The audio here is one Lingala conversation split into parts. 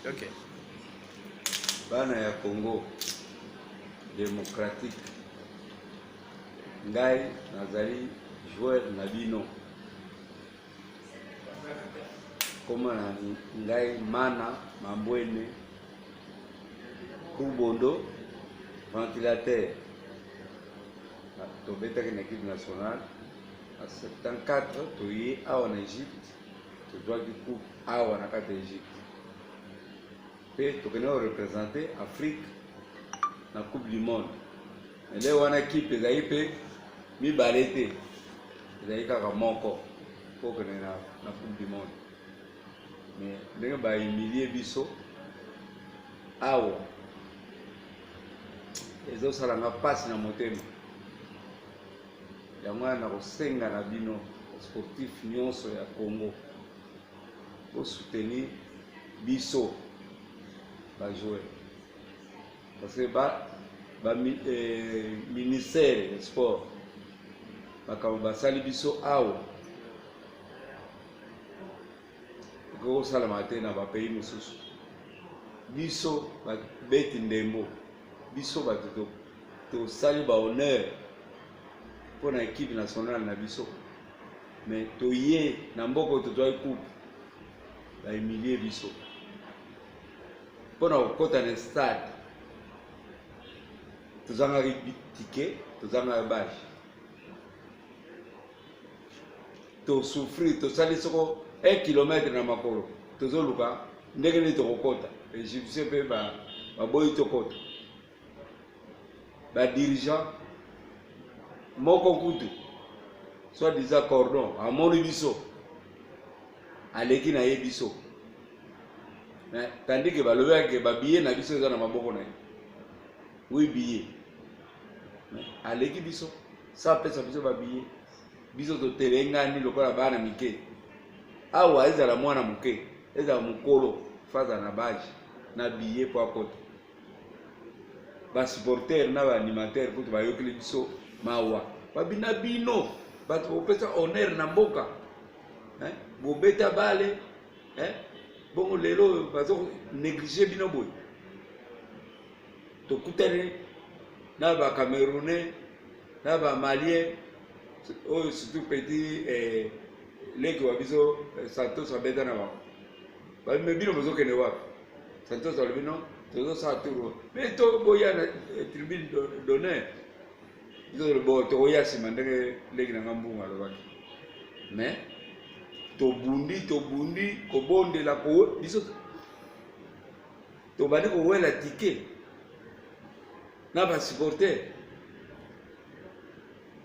Okay. Bana ya Congo demokratike, ngai nazali joueur na bino, koma na ngai Mana Mambwene Kubondo ventilateur. Tobetaki na equipe nationale na 74 toye awa na Egypte tozwaki coupe awa na kati ya egypte mpe tokende korepresente afrique na coupe du monde ele wana kipe ezali mpe mibale te ezali kaka moko mpo okende na, na coupe du monde me ndenge bahumilie biso awa ezosala nga mpasi na motema Yango wana nakosenga na bino sportif nyonso ya Congo bosoutenir biso bajoueur parce que ba, ba eh, ministère ya sport makambo basali biso awa ekoki kosalama te na bapays mosusu biso babeti ndembo biso bato tosali ba honneur mpo na ekipe nationale na biso mais toye na mboka oyo tozwaki coupe bahumilie biso mpo na kokɔta na stade tozangaki tike tozangaki bage to souffrir to sali soko 1 kilomètre na makolo tozo luka ndenge nini tokokota egyptien mpe baboyi ba tokota badirigant moko kutu soit disant cordon amoni biso aleki na ye biso tandis ke balobelaki ke babiye na biso eza na maboko na ye wi biye aleki biso sa apesa biso babiye biso totelengani lokola bana mike awa ezala mwana moke ezala mokolo faza na bage na biye mpo akota basupporter na baanimateur kutu bayokeli biso mawa babina bino bato bopesa honneur na mboka eh? bobeta bale eh? bongo lelo bazo neglige bino boye tokutani na ba camerounais na ba malien oyo surtout petit eh, leki wa biso eh, santos abeta na bango bamime bino bozokende wapi santos alobi no tozosala tour me to boya na eh, tribune d'honneur bo tokoya nsima ndenge leki na nga mbungu alobaki mais tobundi tobundi kobondela ko biso tobandi kowela tike na basupporter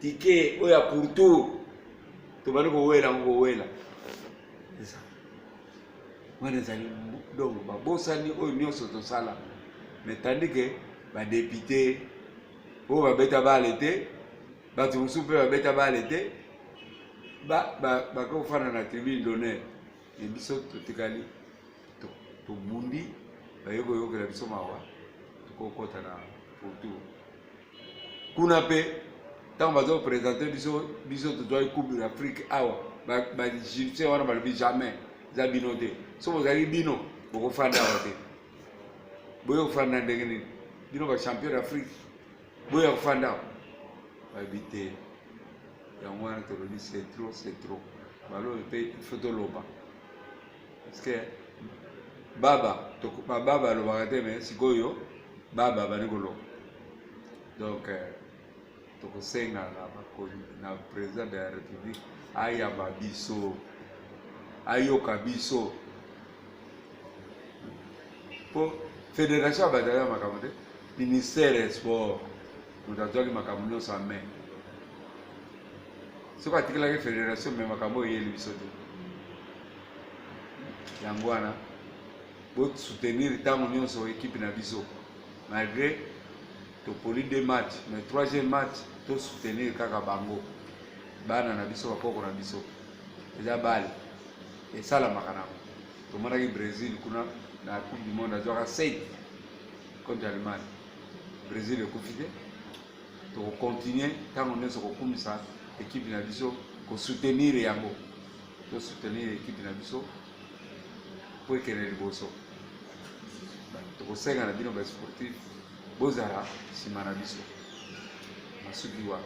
tike oyo ya pourtour tobandi kowela yango kowela wana ezali donc babosani oyo nyonso tosala mais tandi ke badepute oyo babeta bale te bato mosusu mpe babeta bale te bakofanda na tribune d'honneur me biso totikali tobundi baye koyokela biso mawa tokokota na potu kuna mpe ntango bazopresente biso biso tozwaki coupe de l'afrique awa baegyptien wana balobi jamais eza bino te so bozalaki bino bokofanda awa te boye kofanda ndenge nini bino bachampion d'afrique boya kofanda bayebi te yango wana tolobi c'est trop c'est trop balobi mpe ifo toloba parce que baba bababa alobaka te mais sikoyo baba bandi koloba donc euh, tokosenga na bakoni na président de la république ayamba biso ayoka biso mpo fédération ya bato aya makambo te ministère ya sport moto azwaki makambo nyonso ya mai soki atikelaki fédération me makambo oyo eyeli biso te yango wana bosoutenir ntango nyonso ekipe na biso malgré topoli de match mais troisième match tosoutenir kaka bango bana na biso bakoko na biso eza bale esalamaka nango tomonaki brésil kuna na coupe du monde azwaka 7 contre allemagne brésil ekufi te tokocontinue ntango nyonso kokumisa ekipe na biso kosoutenir yango tosoutenir ekipe na biso mpo ekende liboso tokosenga na bino basportif bozala nsima na biso masuki wana